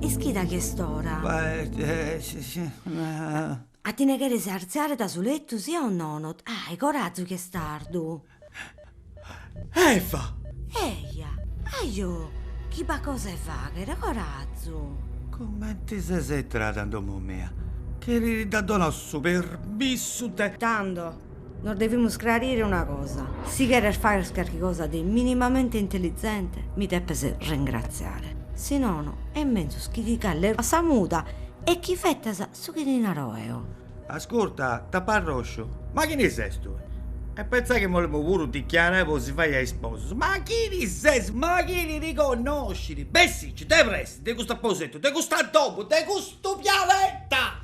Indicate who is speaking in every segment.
Speaker 1: Ischida chi est ora. A ti ne cheres artzare da su letu, sia o nono? Ahi, corazu chi est tardu.
Speaker 2: Eva!
Speaker 1: Eja, ajo, chi b'at cosa 'e fagher, corazu! Comente
Speaker 2: ses entrada in domu mia? Chini ti dd'at donau su permissu de. Tando,
Speaker 1: nos devimus crarire una cosa, si cheres fagher carchi cosa de minimamente intelizente, mi depes ringratziare, si nono, est menzus chi ti calles a sa muda e chi fetas su chi ti naro eo.
Speaker 2: Ascurta, taparrosciu, ma chini ses tui? E pentzai chi m'olemu puru dichiarai po si fai a isposus, ma chini ses? Ma chini ti connosciri? Bessicci, de presti, de custu aposentu, de custa domu, de custu pianeta!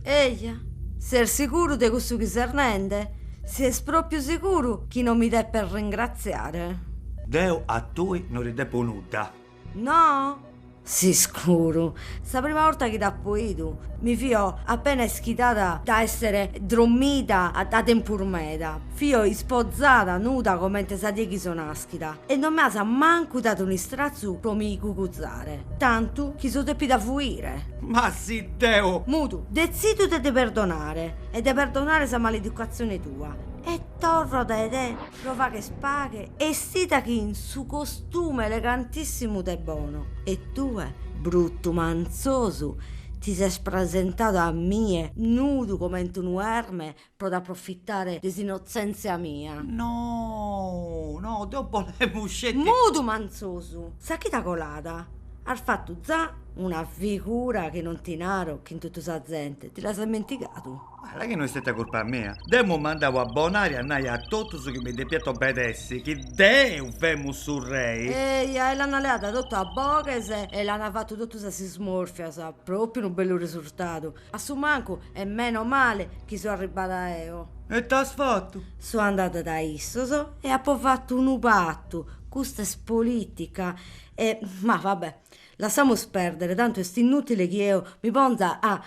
Speaker 1: Eja, ses siguru de cussu chi ses nende? Ses propriu siguru chi non mi depes ringratziare? Deu a
Speaker 2: tui non ti depu nudda.
Speaker 1: No? S'iscuru. Sa prima borta chi t'apo 'idu mi fio appena ischidada da essere drommida da tempus meda. Fio ispozada nuda comente sa die chi so naschida e non m'as mancu dadu un'istrazu pro mi cuguzare, tantu chi so depida fuire. Ma
Speaker 2: si deo. Mudu, detzido
Speaker 1: de ti perdonare e de perdonare sa maleducazione tua e torro da te Pro fagher paghe essida chin su costume elegantissimu de bono e tue, bruttu manzosu, ti ses presentadu a mie nudu comente unu erme pro t'approfitare de s'innotzenzia mia.
Speaker 2: No, no, deo bolemu sceti. Mudu
Speaker 1: manzosu, sa chida colada, as fattu za una figura chi non ti naro chin tottu sa zente, ti l'as ammentigadu? La chi no est
Speaker 2: istetia curpa mia. Dd'emu mandau a Bonari a nai a totus chi mi depiant obedessi, chi deu femu su rei. Eia, e l'ana leada
Speaker 1: totu a boghes e l'ana fatu totu sas ismorfias, propriu unu bellu resurtadu. A su mancu e meno male chi so arribbada eo. E ite as
Speaker 2: fatu? So andada da
Speaker 1: issos e apo fatu unu patu, custa est politica e, ma va bè, Lassamus perdere, tantu est innutile chi eo mi ponza a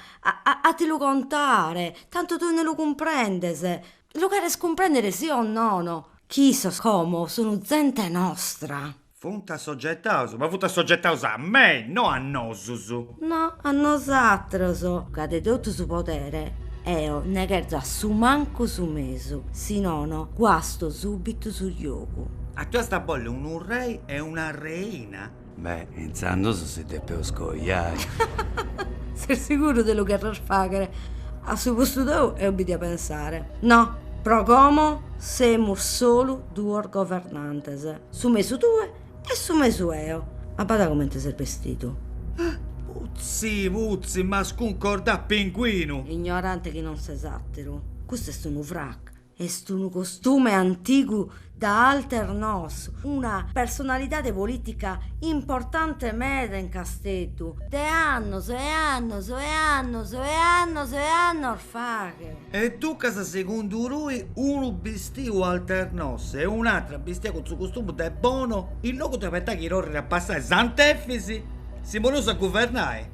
Speaker 1: a ti lu contare, tantu tue no lu cumprendes. Lu cheres cumprendere si o nono? Chi issos como sunu zente nostra. Funt
Speaker 2: assogetaus, ma funt assogetaus a me, no a nosus. No
Speaker 1: a nosatros. Ca de totu su podere eo ne cherzo a su mancu su mesu, si nono guasto subitu su giogu. A tui iast a bolli
Speaker 2: unu rei e una reina? Beh, intzandus
Speaker 3: si depeus coiai.
Speaker 1: Ses siguru de lu cherrer fagher? A su postu tou eo bi dia pensare. No, pro como semus solu duos governantes, su mesu tue e su mesu eo. Abada comente ses bestidu. Putzi,
Speaker 2: putzi, m'as cuncordat pinguinu. Ignorante chi non
Speaker 1: ses ateru. Custu est unu frac. Est unu costume antigu de Alternos, una personalidade polìtica importante meda in Casteddu de annos e annos e annos e annos e annos faghe. E
Speaker 2: ducas segundu tui unu bistiu Alternos e un'atra bistia cun su costumu de Bono, in logu de aspetai chi torrit a passai Sant'Efis si poneus a guvernai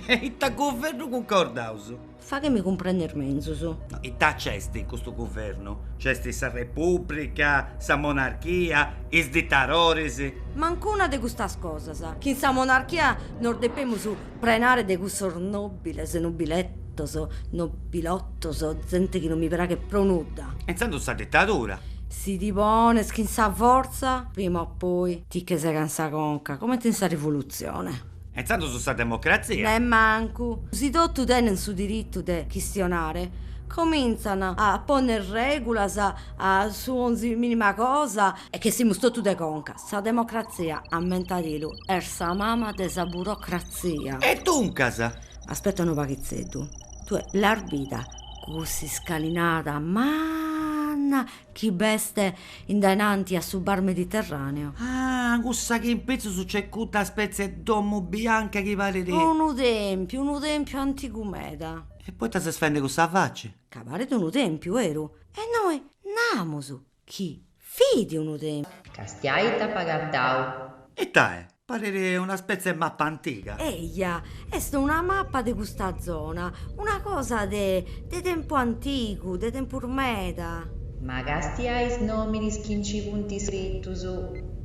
Speaker 2: e ita guvernu cuncordaus. Faghemi
Speaker 1: cumprender menzus. No, ita
Speaker 2: nc'est in custu guvernu? Nc'est sa Repùblica, sa monarchia, is ditadoris. Mancu una de
Speaker 1: custas cosas. Chin sa monarchia nos depemus prenare de cussos nòbiles, nobiletos, nobilotos, zente chi non mi praghet pro nudda. E intzandus sa ditadura.
Speaker 2: Si ti
Speaker 1: pones chin sa fortza, prima o poi ti che segan sa conca, comente in sa Rivolutzione. E intzandus
Speaker 2: sa democratzia.
Speaker 1: Nemmancu. Si totu tenent su diritu de chistionare, comintzan a ponner regulas a su 'onzi minima cosa. E ch'essimus totu de conca, sa democratzia, ammentadilu, est sa mama de sa burocratzia. E
Speaker 2: duncas. Aspetta unu paghitzeddu,
Speaker 1: tue l'as bida cuss'iscalinata manna Chi b'est in dananti a su bar Mediterraneo. Ah,
Speaker 2: cussa chi in pitzus nc'est cudda spetzie 'e domu bianca chi paret. Unu tèmpiu,
Speaker 1: unu tèmpiu antigu meda. E poita ses
Speaker 2: faende cussa faci? Ca paret unu
Speaker 1: tèmpiu, beru. E nois namus chi fit unu tèmpiu. Castia
Speaker 4: ita apu agatau. Ita est?
Speaker 2: Paret una spetzie 'e mappa antiga. Eja,
Speaker 1: est una mappa de custa zona, una cosa de de tempu antigu, de tempus meda. Ma castia
Speaker 4: is nominis chi nci funt
Speaker 2: iscritus.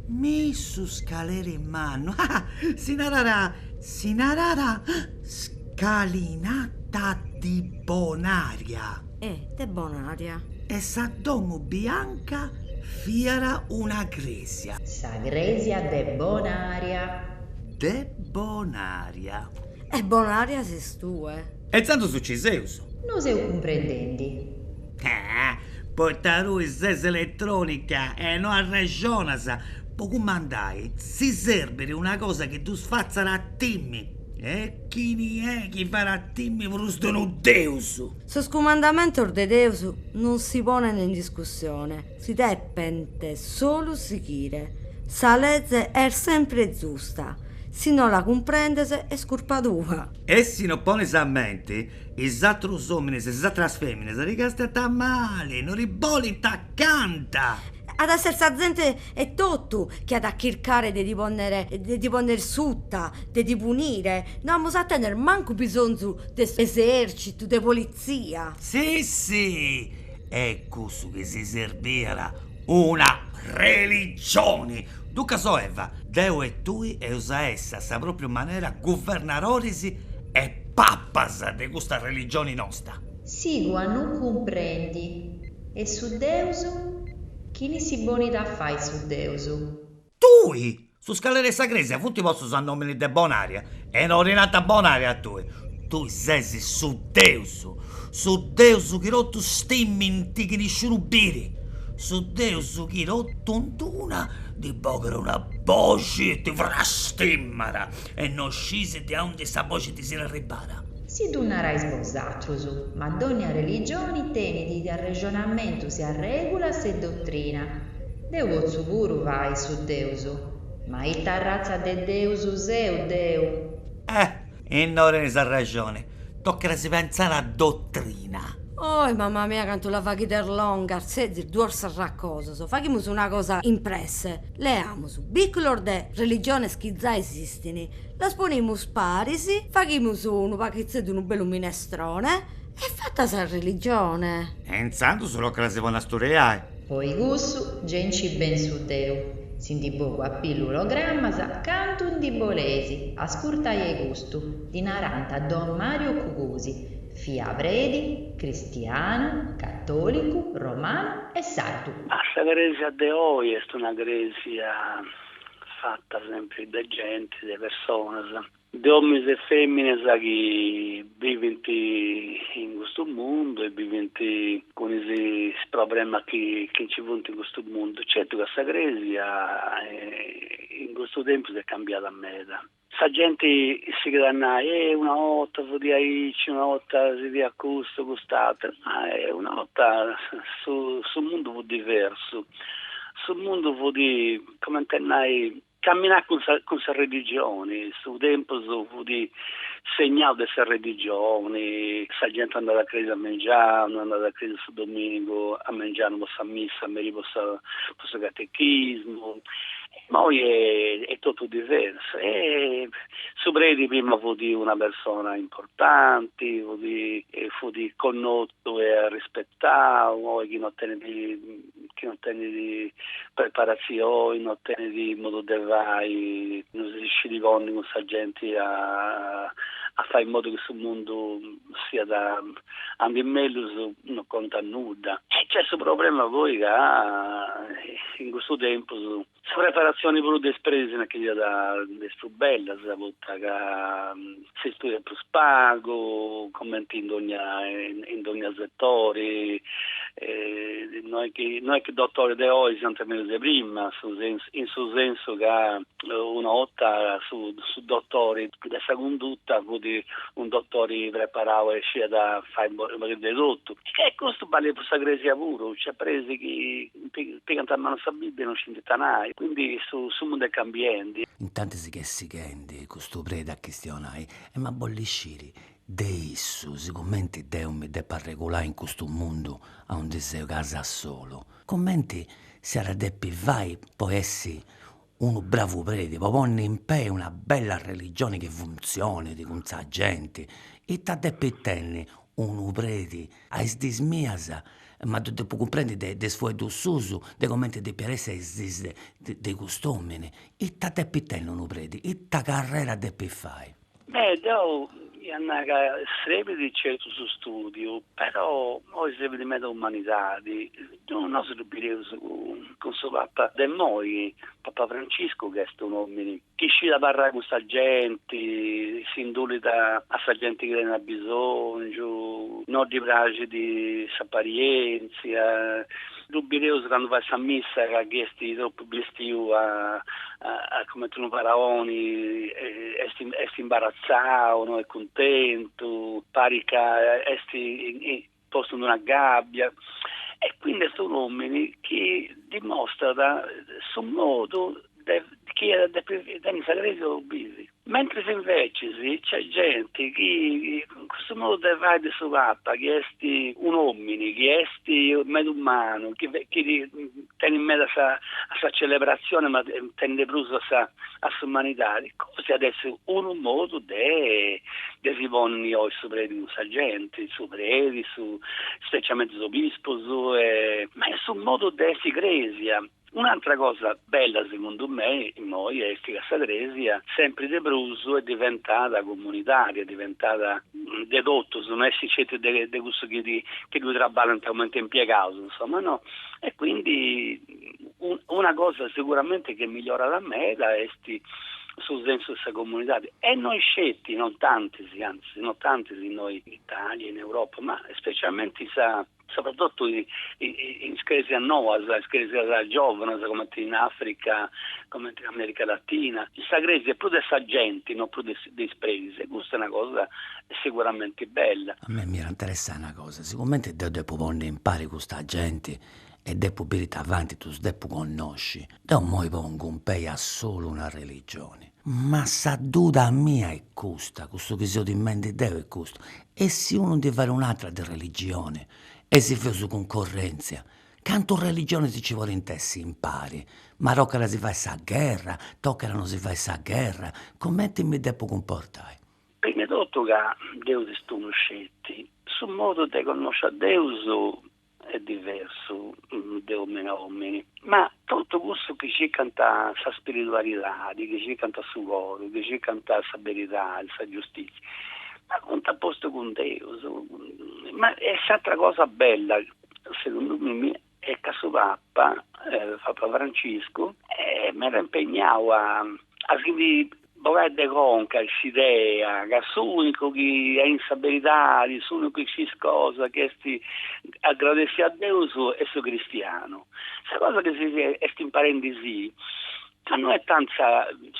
Speaker 4: Mi'
Speaker 2: su scaleri mannu, ah! Si narat, si narat, scalinata di Bonaria. e
Speaker 1: de Bonaria. E
Speaker 2: sa domu bianca fiat una crèsia. Sa
Speaker 4: crèsia de Bonaria. De
Speaker 2: Bonaria. E
Speaker 1: Bonaria ses tue. E tzandus nci
Speaker 2: seus. No seu
Speaker 4: cumprendendi. Ah!
Speaker 2: Poita tui ses eletrònica e no arrexonas po cumandai si serbit una cosa chi ddus fatzat a timmi e chini est chi fait a timmi prus de unu deus! Sos
Speaker 1: cumandamentos de Deus non si ponent in discussione, si depent solu sighire. Sa leze est sempre zusta, si no la cumprendes est curpa tua. E si no
Speaker 2: pones a mente, is atros omines e is atras feminas ti castant male, no ti bolent accanta. At a esser sa
Speaker 1: zente E totu chi at a chircare de ti ponnere de ti ponnere suta, de ti punire, no amus a tenner mancu bisonzu de s'esercitu, de polizia. Si si,
Speaker 2: est cussu chi si serbiat una religioni! Duncas o Eva, deu e tui eus a essi a sa propriu manera guvernadoris e papas de custa religioni nosta. Sigu a non
Speaker 4: cumprendi, e su Deus Chini si ponit a fai su Deus.
Speaker 2: Tui! Is scaleras 'e sa crèsia funt postus a nòmini de Bonària e no ti nant Bonària a tui. Tui ses su Deus, su Deus chi totus stìmint chi nisciunu biri, su Deus chi totu ind una ti bogat una boxi e ti frastimat e no sciis de aundi sa boxi ti siat arribada. Si ddu
Speaker 4: narais bosatrus, ma dònnia religioni tenit is arrexonamentus e arrègulas e dotrina. Deu potzu puru fai su deus, ma ita arratza de deus seu deu? Eh! Innoi
Speaker 2: tenis arrexoni, tocat a si pentzai a dotrina. Oi,
Speaker 1: mama mia, cantu la faghides longa, setzis duos arroscosos, faghimus una cosa in presse, leamus biculos de religiones chi zai esistint, Las ponimus paris, faghimus unu pastitzeddu unu bellu minestrone e fatta sa religione. E
Speaker 2: intzandus tocat a si ponni a studiai. Po cussu
Speaker 4: gei nci pensu deu, si ndi bogu a pillu programmas, cantu ndi boleis ascurtai a custu ddi narant don Mario Cugusi, fiat predi, cristianu, catolicu, romanu e sardu. Sa cresia
Speaker 5: de oi est una cresia fatta sempri de genti, de personas, de ominis e feminas chi bivint in custu mundu e bivint cun is problemas chi nci funt in custu mundu. Certu ca sa cresia in custu tempus est cambiada meda. Sa genti sighit a nai, eh una 'orta fudi aici, una 'orta si fiat custu, cust'ateru. Ma una 'orta su mundu fut diversu, su mundu fudi comente a nai caminàt cun sa cun sa religioni, su tempus fudi segnau de sa religioni, sa genti andàt a cresia a mengianu, andàt a cresia su dominigu a mengianu po sa missa, a meri po sa po su catechismu Ma oi est totu diversu. E su predi prima fut una persona importanti, fut connotu e arrispetau. Oi chi no tenit chi no tenit preparatzioni, no tenit modu de fai, no si scit ponni cun sa genti a fai in modu chi su mundu si andit mellus no contat nudda. E c'est su problema poi ca in cussu tempus sa preparatzioni puru de is presis no est chi siat de is prus bellas poita ca si studiat prus pagu cumenti in dogna in dogna setori no est chi no est chi dotoris de oi siant mellus de prima in su sensu ca una 'orta su dotori De sa cunduta fut un dotori preparau e sciat fai un pagu de totu. E custu balit po sa cresia puru, nc'at presis chi pigant a manu sa Bibbia e no scint ita nai. Quindi su mundu est cambiendi. Intantis si ch'est
Speaker 3: sighendi custu predi a chistionai emu a bolli sciri de issu si cumenti deu mi depu arregulai in custu mundu aundi seu casi solu, cumenti si iat a depi fai po essi unu bravu predi po ponni in pè una bella religioni chi funtzionit cun sa genti, ita depit tenni unu predi, a is dis mias, ma ddu depu cumprendi de de is fueddus suus, de cumenti depiat essi a is dis de de cust'omini, ita depit tenni unu preti, ita carrera depit fai.
Speaker 5: Beh, deu ia a nai ca serbit certu su studiu, però oi serbit meda umanidadi. Deu nosu ddu bideus cun su papa de imoi, papa Franciscu chi est un'omini chi scit abarrai cun sa genti, s'indulit a sa genti chi tenit abisongiu, no ddi praxit s'aparientzia, Ddu bideus candu fait sa missa ca chi est tropu bestiu a a cumenti unu faraoni est est imbaratzau, no est cuntentu, parit ca est postu in una gàbbia e quindi est un' omini chi dimostrat su modu de chi est sa crèsia po bivi. Mentris invecis nc'est genti chi in cussu modu de fai de su Papa chi est un'omini, chi est meda umanu, chi tenit meda a sa celebratzioni ma tenit de prus a s'umanidadi, cosi at essi unu modu de de si ponni oi su predi cun sa genti, su predi, su speciamenti is obispus e ma est su modu de essi crèsia. Un'antra cosa bella segundu me immoi est ca sa crèsia sempri de prus est diventada comunidària, est diventada de totus, no est sceti de cussus chi ddui traballint comente impiegaus, insoma, no. E quindi una cosa seguramente chi est migliorada meda est su sensu de sa comunidadi e non sceti, non tantis, anzi, non tantis innoi in Italia, in Europa, ma specialmente in sa Sopratotu is cresias noas, is cresias giòvanas, comenti in Africa, comenti in America Latina, in sa cresia prus de sa genti, no prus de is predis, e custa est una cosa siguramenti bella. A mei m'iat
Speaker 3: interessai una cosa, sigumenti deu depu ponni a impari custa genti e depu biri ita faint, ddus depu connosci, deu immoi pongu in pei a solu una religioni, Ma sa duda mia est custa, cussu chi seu timbendi deu est custu, e si unu ndi fait un'atra de religioni e si feus cuncorrentzia, cantu religioni nci podint essi impari, ma tocat a si fai sa gherra, tocat a no si fai sa gherra, cumenti mi depu cumportai? Primu 'e totu
Speaker 5: ca Deus est unu sceti, su modu de connosci a Deus est diversu de òmini a òmini, ma totu cussus chi circant sa spiridualidadi, chi circant su coru, chi circant sa beridadi, sa giustizia, ma funt a postu cun Deus. Ma e s'atra cosa bella, segundu mimi, est ca su Papa, Papa Franciscu, est meda impegnau a si ndi Bogai de conca s'idea ca s'unicu chi est in sa beridadi, s'unicu chi scit cosa chi est agradessiu a Deus est su cristianu. Sa cosa chi si est imparendi est ca no est tanti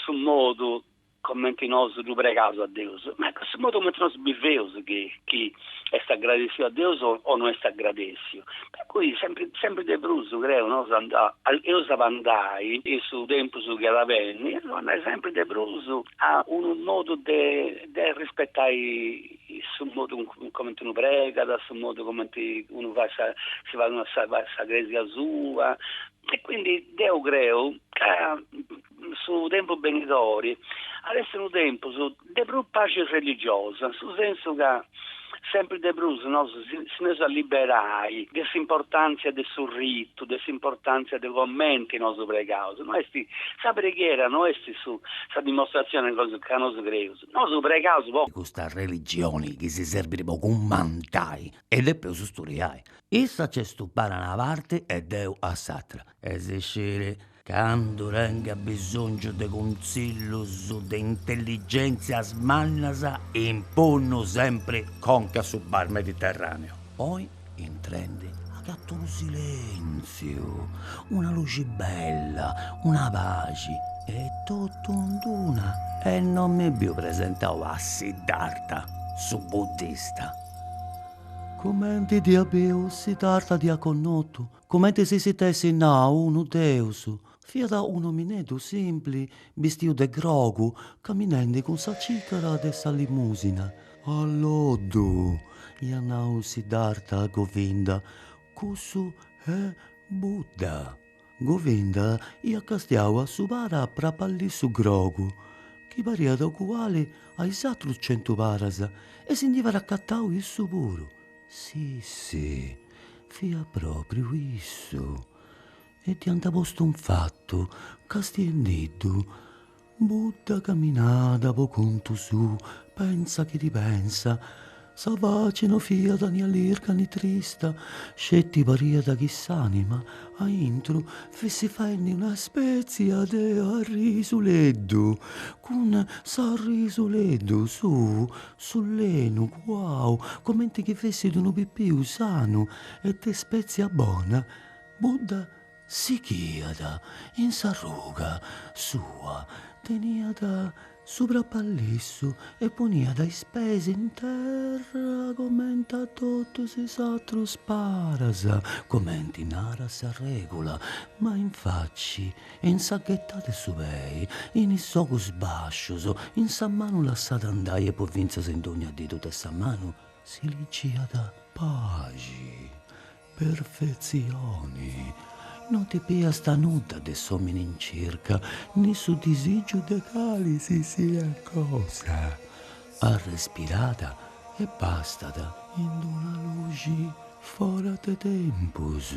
Speaker 5: su modu comenti nosu ddu pregaus a Deus, ma est su modu comenti nosu biveus chi est agradessiu a Deus o no est agradessiu, per cui sempri sempri de prus creu no anda eus a andai in su tempus chi at a benni eus a andai sempri de prus a unu modu de de arrispetai su modu cumenti unu pregat, su modu cumenti unu fait sa si fait una sa sa crèsia sua e quindi deu creu ca Su tempus benidori at essi unu tempus de prus paxi religiosa, in su sensu ca sempri de prus nosu si nd'eus a liberai de s'importantzia de su ritu, de s'importantzia de comenti nosu pregaus. No esti, sa preghiera no esti su sa dimostratzioni ca nosu creus, nosu pregaus po. Custa religioni
Speaker 3: chi si serbit po cummantai e depeus sturiai. Issa nc'est stupada a una parti e deu a s'atra. e si sciri candu tengu bisongiu de cunzillus de intelligenzias mannas impunnu sempri conc'a su bar Mediterraneo. Oi intrendi agattu unu silenziu, una luxi bella, una paxi e tottu in duna e non mi biu presentau a Siddharta su buddista. Cumenti dd'iat biu Siddharta dd'iat connottu Comente si si dd'essit nau unu deus. Fiat un'omineddu simpli, bistiu de grogu, caminendi cun sa cìcara de sa limusina. A loddu! iat nau Siddhartha a Govinda, cussu est Buddha! Govinda iat castiau a su para a prapallissu grogu, chi pariat oguali a is atrus centu paras, e si ndi fiat acatau issu puru. Si, si, fiat pròpriu issu, e dd'iant postu in fatu, castiendiddu, Budda caminada po contu suu, pensa chi ti pensa, sa faci no fiat ni allirga ni trista, sceti pariat chi s'ànima, a intru, fessit faendi una spètzia de arrisuleddu, cun s'arrisuleddu suu Sulenu cuau comente chi fessit unu pipiu sanu e de ispètzia bona budda sighiat in s'arruga sua, teniat su prapallissu e poniat is pes in terra comente a totus is atrus paras, comente narat sa règula, ma in faci e in sa ghettada 'e su pei, in is ogus bascius, in sa manu lassada andai e po fintzas in dogna didu de sa manu si ligiat, Paxi, perfetzioni, no ti biast nudda de s'omini in circa, ni su disigiu de cali si siat cosa, arrespirada e bastat in d'una luxi fora de tempus.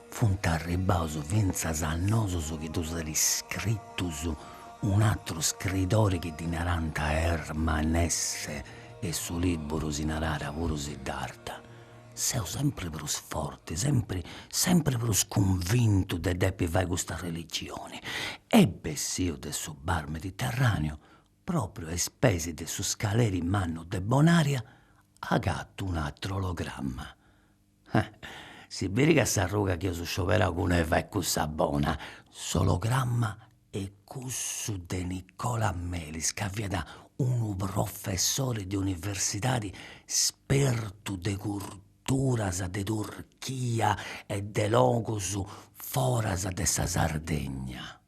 Speaker 3: Funt arribbaus fintzas a nosus chi ddus at iscritus un'atteru scriidori chi ddi narant Hermann Hesse e su liburu si narat puru Siddharta. Seu sempre prus forti, sempre sempre prus cunvintu de depi fai custa religioni. E bessiu de su bar mediterraneo, propriu a is peis de su scaleri mannu de Bonaria, agattu un'atteru ologramma. Si bit ca s'arruga chi eus scioberau cun Eva est cussa bona. S'ologramma est cussu de Nicola Melis ca fiat unu professori de universidadi spertu de curturas de Turchia e de logus foras de sa Sardegna.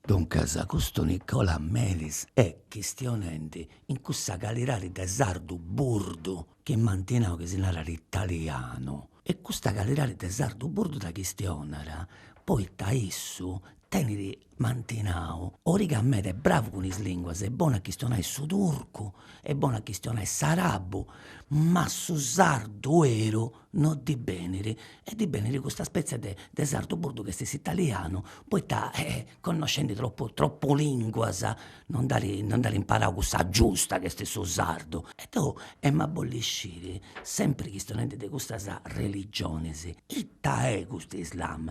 Speaker 3: Duncas custu Nicola Melis est chistionendi in cussa calidadi de sardu burdu chi m'anti nau chi si narat italianu e custa calidadi de sardu burdu dda chistionat poita issu tenit m'anti nau origa meda, est bravu cun is linguas, est bonu a chistionai su turcu, est bonu a chistionai s'arabu ma su sardu 'eru no ddi benit e ddi benit custa spetzia de de sardu burdu chi est s'italianu poita connoscendi tropu tropu linguas no nd'at no nd'at imparau cussa giusta chi est su sardu e deu em'a bolli sciri sempri chistionendi de custas religionis ita est custu Islam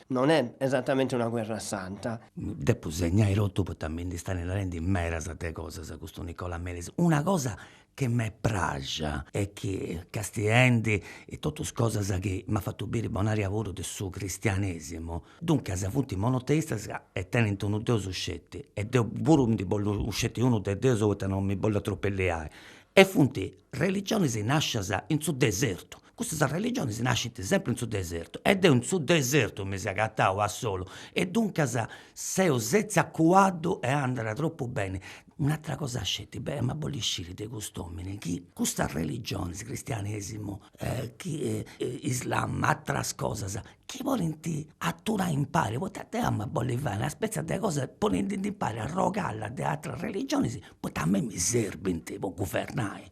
Speaker 6: Non è esatamente una guerra santa. Depu
Speaker 3: segnai totu poita mi nd'istat narendi medas de cosas custu Nicola Melis, una cosa chi m'est praxia est chi castiendi totus cosas chi m'at fatu biri Bonaria puru de su cristianesimu, duncas funt monoteistas e tenint unu deus sceti e deu puru ndi bollu sceti unu de deus poita non mi bollu atropelliai e funt religionis nascias in su desertu, Custas arreligionis nascint sempri in su desertu e deu in su desertu mi seu agatau a solu e duncas seu setziu a cuaddu e andat tropu beni. Un'atra cosa sceti, em'a bolli sciri de cust'omini chi custas arreligionis, cristianesimu chi islam, atras cosas, chi podint aturai impari, poita deu em'a bolli fai una spetzia de cosa ponendi impari arrogalla de atras arreligionis, poita a mei mi serbint po guvernai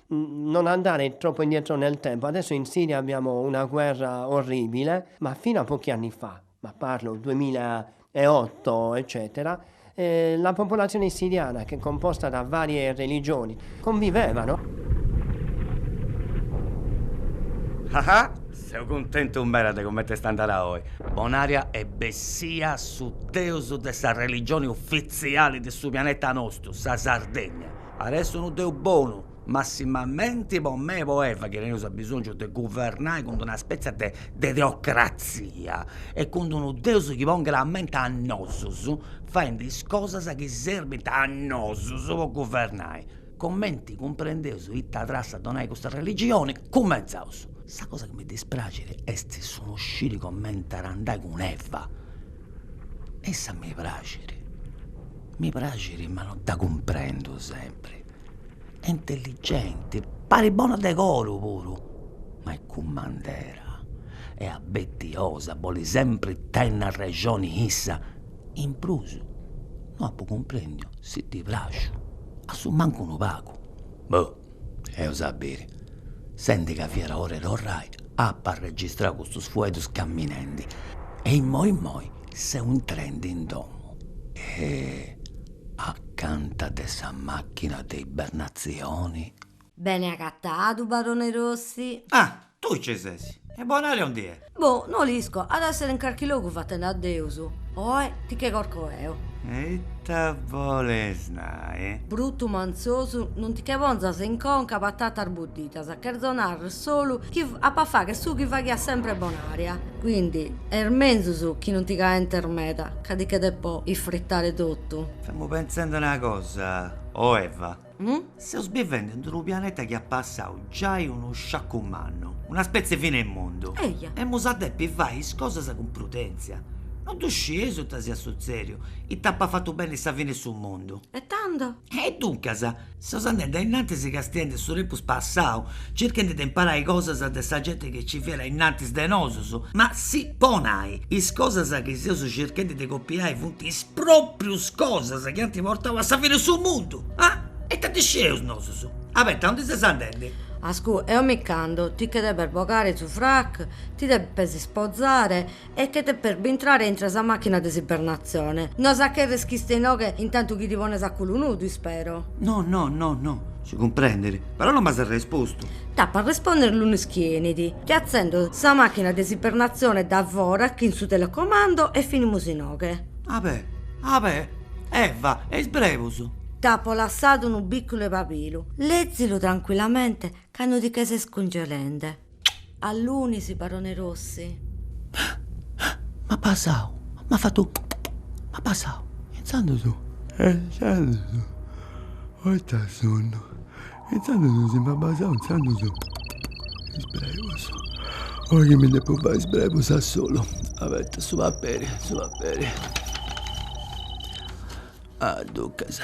Speaker 6: non andare troppo indietro nel tempo, adesso in Siria abbiamo una guerra orribile, ma fino a pochi anni fa, ma parlo 2008 eccetera, la popolazione siriana che è composta da varie religioni
Speaker 3: convivevano. Haha seu cuntentu meda de comente est andada oi, Bonaria est bessia su deus de sa religioni ufitziali de su pianeta nostru, sa Sardegna. At a essi unu Deu bonu, massimamenti po mei po Eva, chi teneus abisongiu de guvernai cun d'una spetzia de de teocratzia e cun d'unu Deus chi ponghet a menti a nosus, faendi is cosas chi serbint a nosus po guvernai. Cumenti cumprendeus ita trassa a donai custa religioni, cumentzaus. Sa cosa chi mi dispraxit est su no sciri cumenti at a andai cun Eva issa mi praxit, mi praxit ma non dda cumprendu sempri, è intelligenti, parit bona de coru puru, ma è cummandera, è abbettiosa, bolit sempri tenni arrexoni issa, in prus no apu cumprendiu si ddi praxu, assumancu unu pagu, boh eus a biri, sendi ca fiat ora 'e torrai, apu arregistrau custus fueddus camminendi e immoi immoi seu intrendi in domu e acanta de sa machina de ibernatzioni. Bene
Speaker 1: agatadu, barone Rossi. Ah! Tui ci
Speaker 2: ses? E Bonaria aundi è? Boh, no
Speaker 1: l'isco, at a essere in carchi logu fatende a Deus. Oe ti che corco eo. E
Speaker 2: ita boles nai? Brutu
Speaker 1: mantzosu, non ti che ponzas in conca patatas buddidas, cherzo narrer solu chi apo a fagher su chi faghiat sempre Bonaria. Quindi est menzus chi non ti caentes meda, ca ti che depo isfrittare totu. Femu pensende una
Speaker 2: cosa, o Eva. Hm?
Speaker 1: Seus bivende
Speaker 2: in unu pianeta chi at passau giai unu sciacu mannu, una spetzie 'e fina 'e mundu. Eja. Emus a
Speaker 1: depi fai
Speaker 2: is cosas cun prudèntzia. No ddu scieus ita siat sutzèriu, ita apat fatu benni sa fina 'e su mundu. E tando? E
Speaker 1: duncas,
Speaker 2: seus andende a innantis castiende su tempus passau, circhende de imparai cosas de sa genti chi nci fiat a innantis de nosus, ma si po nai, is cosas chi seus circhende de copiai funt is pròprius cosas chi ant portau a sa fina 'e su mundu. Ah! E ita ndi sceus nosus? Abeta, aundi ses andendi? Ascù, eo
Speaker 1: mi ch'ando, ti che depes bogare su frac, ti depes ispozare e che depes bintrare intro 'e sa machina de s'ibernatzione. No as a cherrer chi iste inoghe in tantu chi ti pones a culu nudu, ispero? No, no, no,
Speaker 2: no, si cumprendet, però non m'as arrespostu. T'apo a
Speaker 1: responder lunis chi 'enit, ti atzendo sa machina de s'ibernatzione da fora chin su telecomando e finimus inoghe. Abè, abè!
Speaker 2: Eva, e is brebus? T'apo
Speaker 1: lassadu unu bìculu 'e pabilu. Lezilu trancuillamente cando ti che ses cungelende. A lunis, barone Rossi.
Speaker 3: M'at basau, m'at fatu, m'at basau. Intzandus. E intzandus,
Speaker 7: poita sonnu. Intzandus si m'at basau intzandus is brebus. Oi chi mi depu fai is brebus a solu. Abeta, su paperi, su paperi.
Speaker 3: Ah duncas.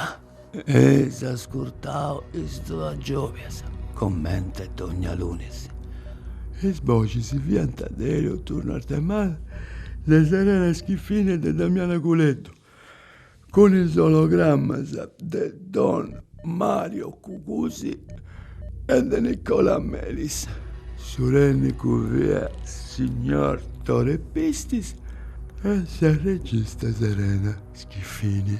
Speaker 3: Eis ascurtau is duas giòbias, comente dogna lunis. Is
Speaker 7: boxis fiant de Elio Turno Arthemalle, de Serena Schiffini e de Damiana Culeddu. Cun is ologrammas de don Mario Cucusi e de Nicola Melis. Su tènnicu fiat signor Tore Pistis e sa regista Serena Schiffini.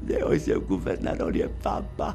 Speaker 7: Deo seu guvernadori 'e babbai